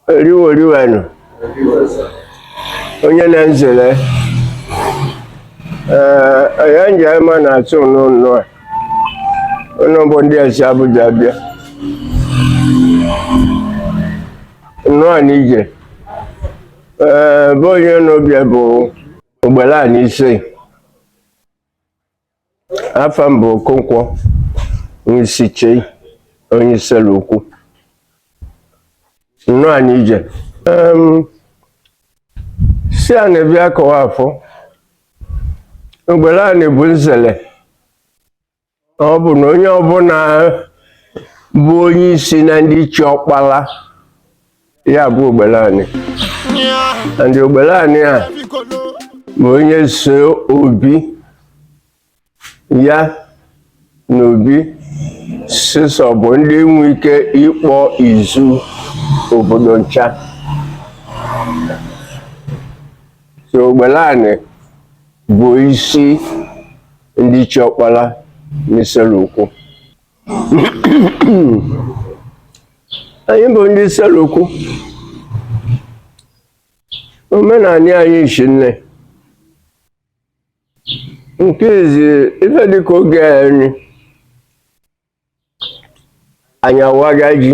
oriworiwenụ onye na nzele ee onye nje ma na-asị ụnụ nnọa ụnụ bụ ndị esi Abuja bịa nnọa nị ije ee be onye ụnụ bịa bụ ogbelani ise afa m bụ Okonkwo Nwisiche onye Isele-Uku nnọa nị ije sị anyị bịa kọwa afọ ogbelani bụ nzele ọ bụ na onye ọbụna bụ onye isi na ndị chi ọkpala ya bụ ogbelani and ogbelani a ma onye so obi ya na obi sisọ bụ ndị nwe ike ịkpọ izu obodo ncha so ogbelani bụ isi ndị chi ọkpala n'Isele-Uku anyị bụ ndị Isele-Uku omenani anyị shi nne nke izi ife dịka oge anyị anyị awaga ji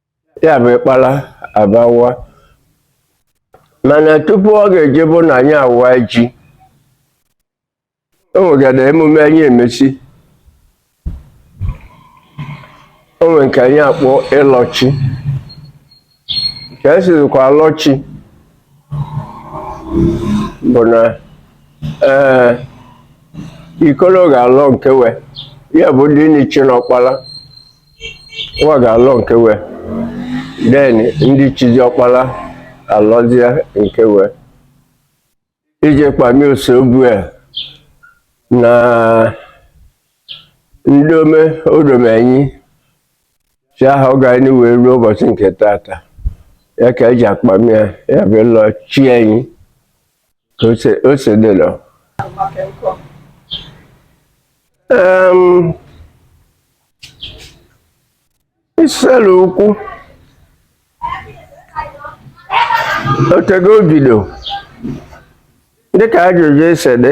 ya bụ ịkpala abawa mana tupu ọ ga-eje bụ na anyị awaa ji o nwegara emume anyị emesi o nwere nke anyị akpọ ịlọchi ka esizikwa alọchi bụ na ee ikolo ga-alọ nke we ya bụ ndị nichi na ọkpala nwa ga-alọ nke we then ndị chizi ọkpala alọzie nke we ije kpamie Osobua na ndome o dome anyị si ahọ gaanị wee luo ụbọchị nke tata ya ka eji akpamie ya bụ ịlọ chi anyị Ose ose dị lọ. Um, Isele-Uku o tego o bido dịka ajụjụ esi dị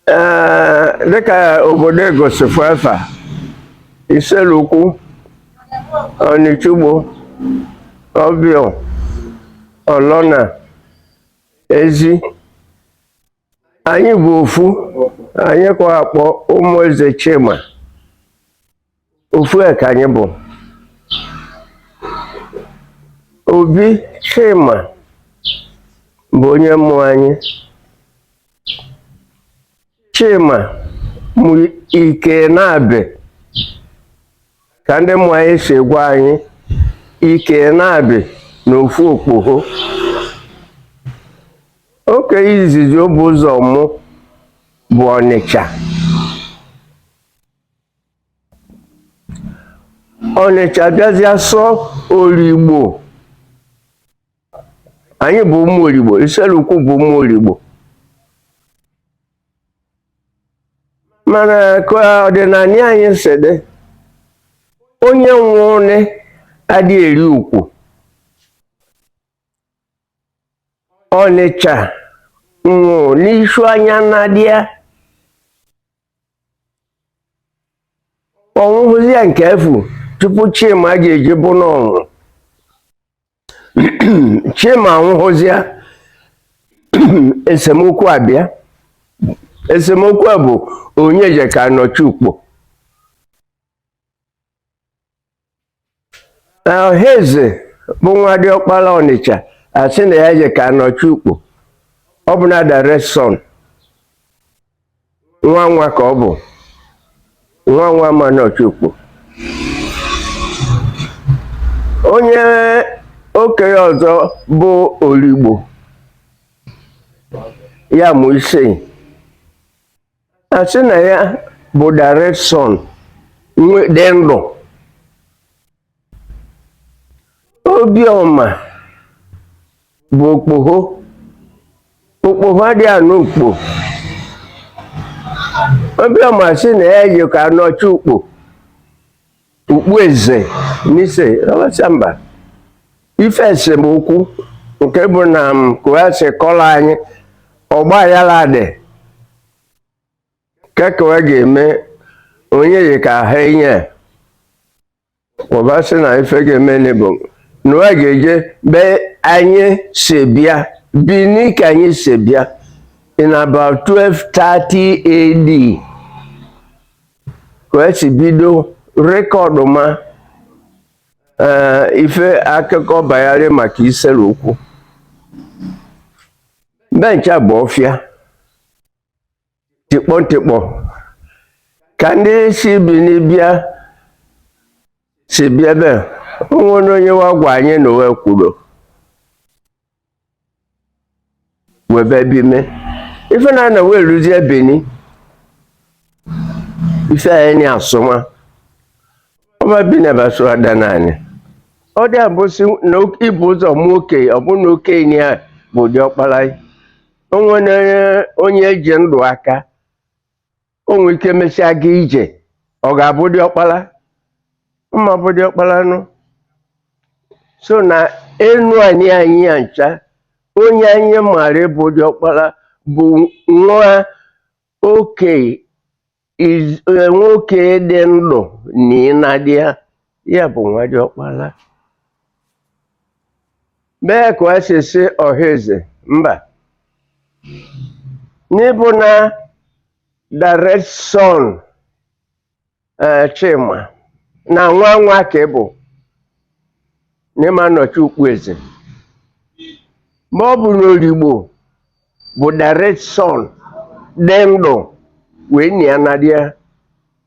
ee dịka obodo egosifu efa isele-uku ọnịcha-ugbo ọbịọ ọlọna ezi anyị bụ ofu anyị ka a kpọ ụmụ eze chima ofu ka anyị bụ obi chima bụ onye mụ anyị chima mụ ikei naabị ka ndị mụ anyị si gwa anyị ikei naabị na ofu okpoho okei izizi o bu ụzọ mụ bụ ọnịcha ọnịcha bịazịa so oligbo anyị bụ ụmụ oligbo isele-uku bụ ụmụ oligbo mana ka ọdịnanị anyị si dị onye nwụnị adị eri ukwu ọnịcha nwụ n'isu anya nnadi a ọ nwụhụzịa nke afụ tupu chima ji eji bụ n'ọnwụ chima anwụhụzịa esemokwu abịa esemokwu a bụ onye je ka nọchi ukpo Ọhaeze bụ nwa diọkpala Ọnịcha asị na ya je ka anọchi ukpo ọ bụ na direct son nwa nwa ka ọ bụ nwa nwa ma nọchi ukpo onye okei ọzọ bụ Oligbo ya mụ Isei asị na ya bụ direct son dị ndụ obiọma bụ okpoho okpoho adị anọ ukpo obiọma asị na ya ji ka anọchi ukpo Okpueze Nise ọbasịa mba ife esemokwu nke bụ na m kọwasị kọla anyị ọgba aghala dị keke wa ga-eme onye yi ka ha enye ọbasị na ife ga-emenị bụ na wa ga-eje be anyị si bịa bini ka anyị si bịa in about 1230 AD ka wa si bido rekọdụ ma eh, ife akụkọ banyere maka Isele-Uku ebe ncha bụ ọfịa tikpọ tikpọ ka ndị si Bini bịa si bịa ebe onwere onye wa gwa anyị na uwe kwuru webe bime ife na na wee ruzie Bini ife anyị ni asụma ọba bi na baso ada naanị ọ dị abụsị na ibu ụzọ mụ okei ọ bụ na okei a bụ diọkpara o nwene onye eji ndụ aka o nwere ike emesịa gaa ije ọ ga-abụ diọkpara ọ ma-abụ diọkpara nụ so na Enuani anyị ya ncha onye anyị maara bụ diọkpara bụ nwa oke iz- eh, nwoke dị ndụ nia nadi ya ya bụ nwa diọkpala mee ka ọ si si ọha eze mba n'ịbụ na direct son eh, Chima na nwa nwa ka ị bụ na ị ma-anọchi ukpo eze ma ọ bụ n'Oligbo bụ direct son dị ndụ wee nia nadi ya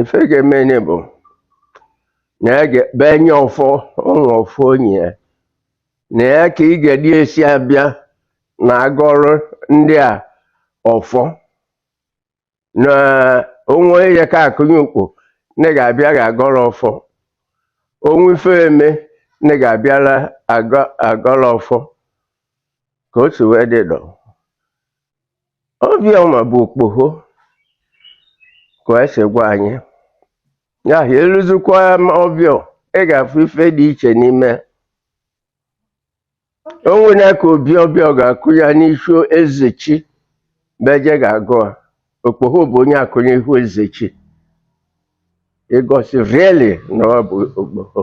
ife ga-eme ni bụ na ya ga-ebe nye ọfọ ụmụ ọfọ onye ya na ya ka ị ga-edi esi abịa na agọrụ ndị a ọfọ na onwe ya ka akụnye ukpo na ga-abịa ga-agọrọ ọfọ onwe ife eme na ga-abịara agọ- agọrọ ọfọ ka o si wee dị dọ Obiọ ma bụ okpoho ka e si gwa anyị ya ahụ eluzikwa Obiọ ị ga-afụ ife dị iche n'ime o nwere ka Obi Obiọ ga-akụ ya n'isi Ezechime je ga-agụ a okpoho bụ onye akụ n'ihu Ezechi igosi really na ọ bụ okpoho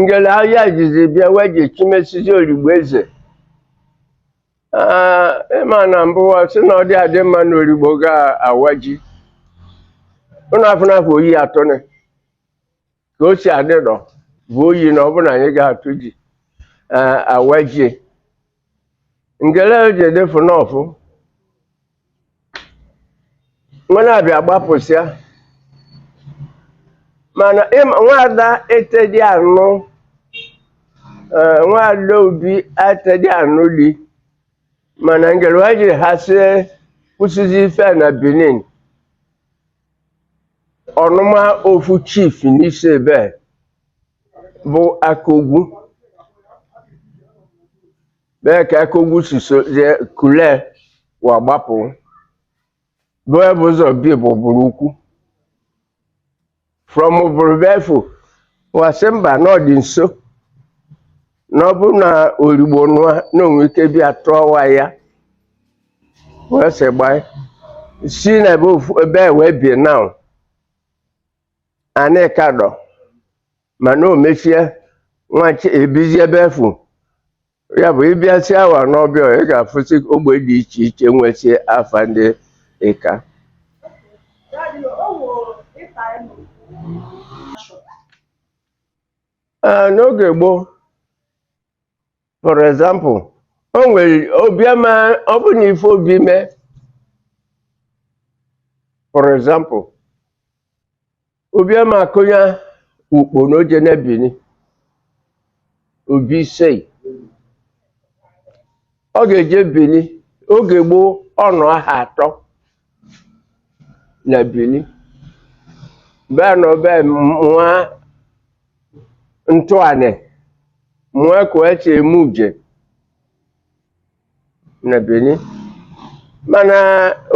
ngele ahịa jizi bịa wee ji chimesizi Oligbo eze Ee, ịma na mbụ wa sị na ọ dị adị mma na Oligbo ga-awa ji ụnụ afọ n'afọ oyi atụnị ka o si adị dọ bụ oyi na ọ bụ na anyị ga-atụ ji ee, awa ji ngele wa ji edefu n'ọfụ wa na-abịa gbapụsịa mana ịma- nwaada etedi anụ eh, nwaada obi etedi anụ di mana ngele wa ji ha sie kwụsịzi ife a na benin ọnụma ofu chief n'isi ebe a, bụ Akogwu bee ka Akogwu si so jee kule wa gbapụ bụ ebe ụzọ bi bụ Uburu Ukwu from Uburu befu wa sị mba na ọ dị nso na ọ bụ na Origbo nụa na o nwe ike bịa tụọ wa aya wee sị gbaa si na ebe ofu ebe a wee bie now anị ka dọ mana o mechie nwachi ebizi ebe efu ya bụ ị bịasị awa n'ọbịa ị ga-afụsị ogbe dị iche iche nwesị afa ndị Ịka Ee, n'oge gboo for example o nwere obi ama ọ bụ na ife obi mee for example obi ama akụnya ukpo na o je na Bini obi Isei ọ ga-eje Bini oge gboo ọ nọ aha atọ na Bini bịa nọ ebe mụa ntụanị mụa ka e si eme uje na Bini mana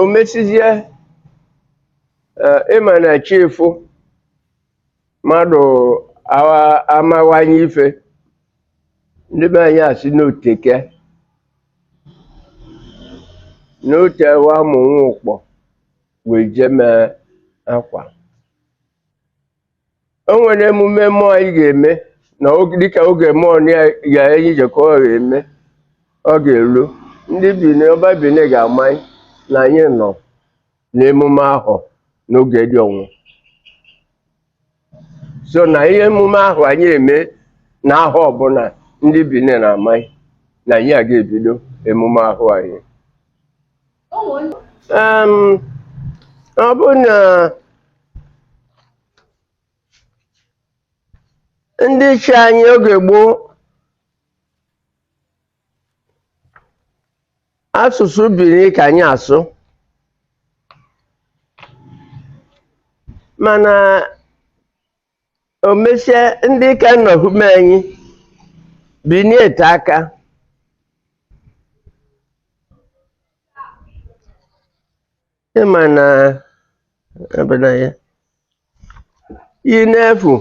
o mesizie ịma na chifu mmadụ awa- amawanye ife ndị be anyị asị n'oteke n'otewa mụnwa ụkpọ wee jee mee akwa o nwere emume mmụọ anyị ga-eme na oge- dịka oge mmụọ na ya ya anyị jekọ ọ ga-eme ọ ga-elu ndị Bini ọba Bini ga-amalị na anyị nọ n'emume ahụ n'oge dị ọnwọ so na ihe emume ahụ anyị eme na ahọ ọbụna ndị Bini na-amalị na anyị a ga-ebido emume ahụ anyị ọ bụ na ndị ichie anyị oge gboo asụsụ bini ka anyị asụ mana o mesịa ndị ka nọhume anyị bini ete aka ịma na a ba na ya ị na-efu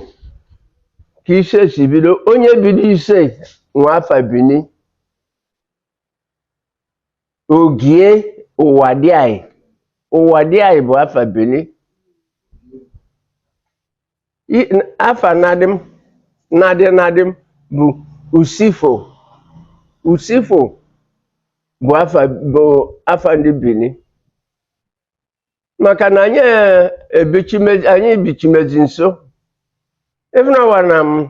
ka ise si bido onye bido ise nwe afa bini ogie Uwadiae Uwadiae bụ afa bini I- n- afa nna di m nna di nna di m bụ usifo usifo bụ afa bụ afa ndị bini maka na anyị eh, ebichimezi anyị bichimezi nso ịfụnawa na m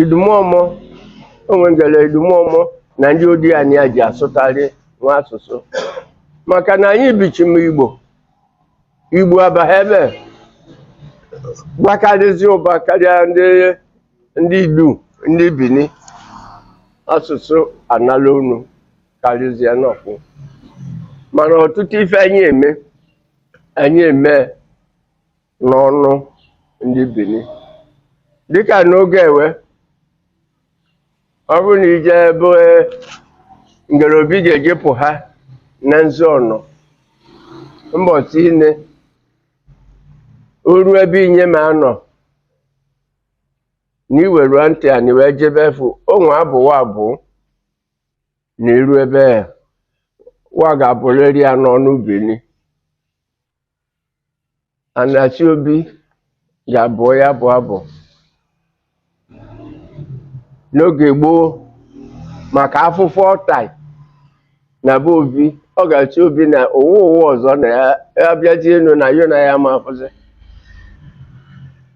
Idumọmọ o nwegele idumọmọ na ndị Odiani a ji asụtarị wa asụsụ maka na anyị bichime Igbo Igbo abaghị ebe gbakarịzi ụba karịa ndị ndị Idu ndị Bini asụsụ anala unu karịzie n'okwu mana ọtụtụ ife anyị eme anyị eme n'ọnụ ndị Bini dịka n'oge ewe ọ bụrụ na ije ebe ngere Obi ga-ejepụha na nzu ọnọ mbọchị ine oru ebe inye ma anọ na iwerua ntị anị wee jebe efu o nwe abụ wa abụ na iru ebe wa ga-abụrịrị ya n'ọnụ Bini A na-achị Obi ga-abụ ya bụ abụ n'oge gboo maka afụfụ ọ tai na be Obi ọ ga-achị Obi na ụwa ụwa ọzọ na ya ya bịazie enu na yo na ya ma afụzi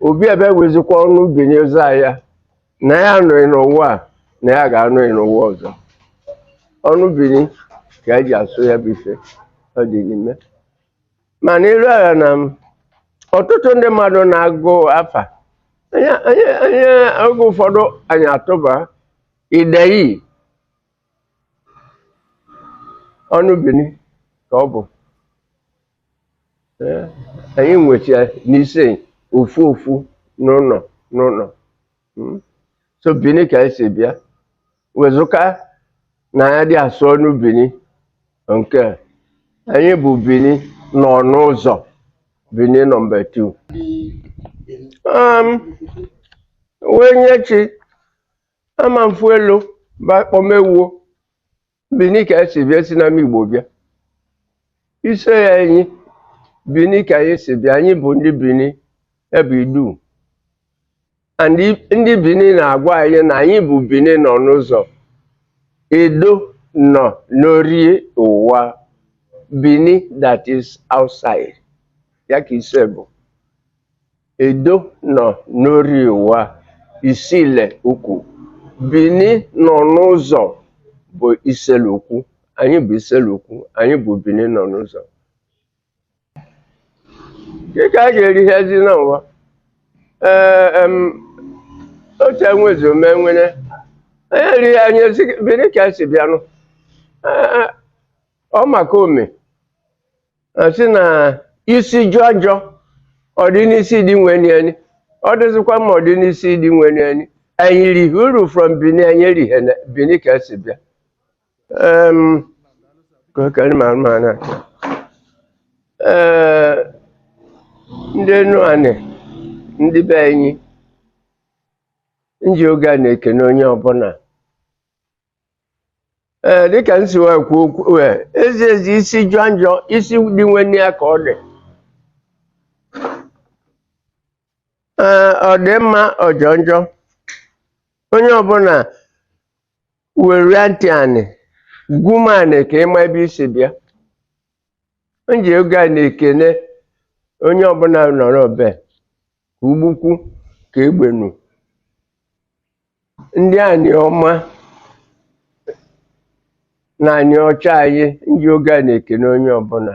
Obi ebe wezikwa ọnụ bini ụzọ ya na ya anụghị n'ụwa a na ya ga-anụghị n'ụwa ọzọ ọnụ bini ka eji asụ ya bụ ife ọ dị n'ime ma n'elu ala na m ọtụtụ ndị mmadụ na-agụ afa anyị anyị anyị oge ụfọdụ anyị atụba ideyi ọnụ bini ka ọ bụ Ee, anyị nwecha n'ise ofu ofu n'ụlọ n'ụlọ Mm. so bini ka anyị si bịa wezụka na ya dị asụ ọnụ bini nke a, anyị bụ bini nọ n'ụzọ bini nọmba 2 um, wee nye chi ama mfu elu ba kpọmewuo bini ka e si bịa si n'ama igbo bịa ise ya anyị bini ka anyị si bịa anyị bụ ndị bini ebe idu and ndị Benin na-agwa anyị na anyị bụ Benin nọ n'ụzọ Edo nọ n'orie ụwa Benin that is outside ya ka ise bụ Edo nọ n'orie ụwa Isile ukwu Benin nọ n'ụzọ bụ Isele ukwu anyị bụ Isele ukwu anyị bụ Benin nọ n'ụzọ dịka a ga-eri ihe ezi na ụwa ee em, otu enwezi ome nwere onye erighị anyị ezi bini ka e si bịanụ Ee, ee, ọ maka ome a sị na isi jọọ njọ ọ dị n'isi di nwenịa ọ dịzikwa mma ọ dị n'isi di nwenịa anyị rihi uru from bini anyị rihe na bini ka e si bịa Em. Ee, ndị Enuanị ndị be anyị nji oge a na-ekene onye ọbụla ee dịka m si wee kwuo okwu ee, ezi ezi isi jọọ njọ isi di nwenịa ka ọ dị Ee, ọ dị mma ọ jọọ njọ onye ọbụla weria ntị anị gwu m anị ka ị ma ebe i si bịa m ji oge a na-ekene onye ọbụla nọrọ be ka ugbukwu ka egbenu ndị Anịọma na Anịọcha anyị m ji oge a na-ekene onye ọbụla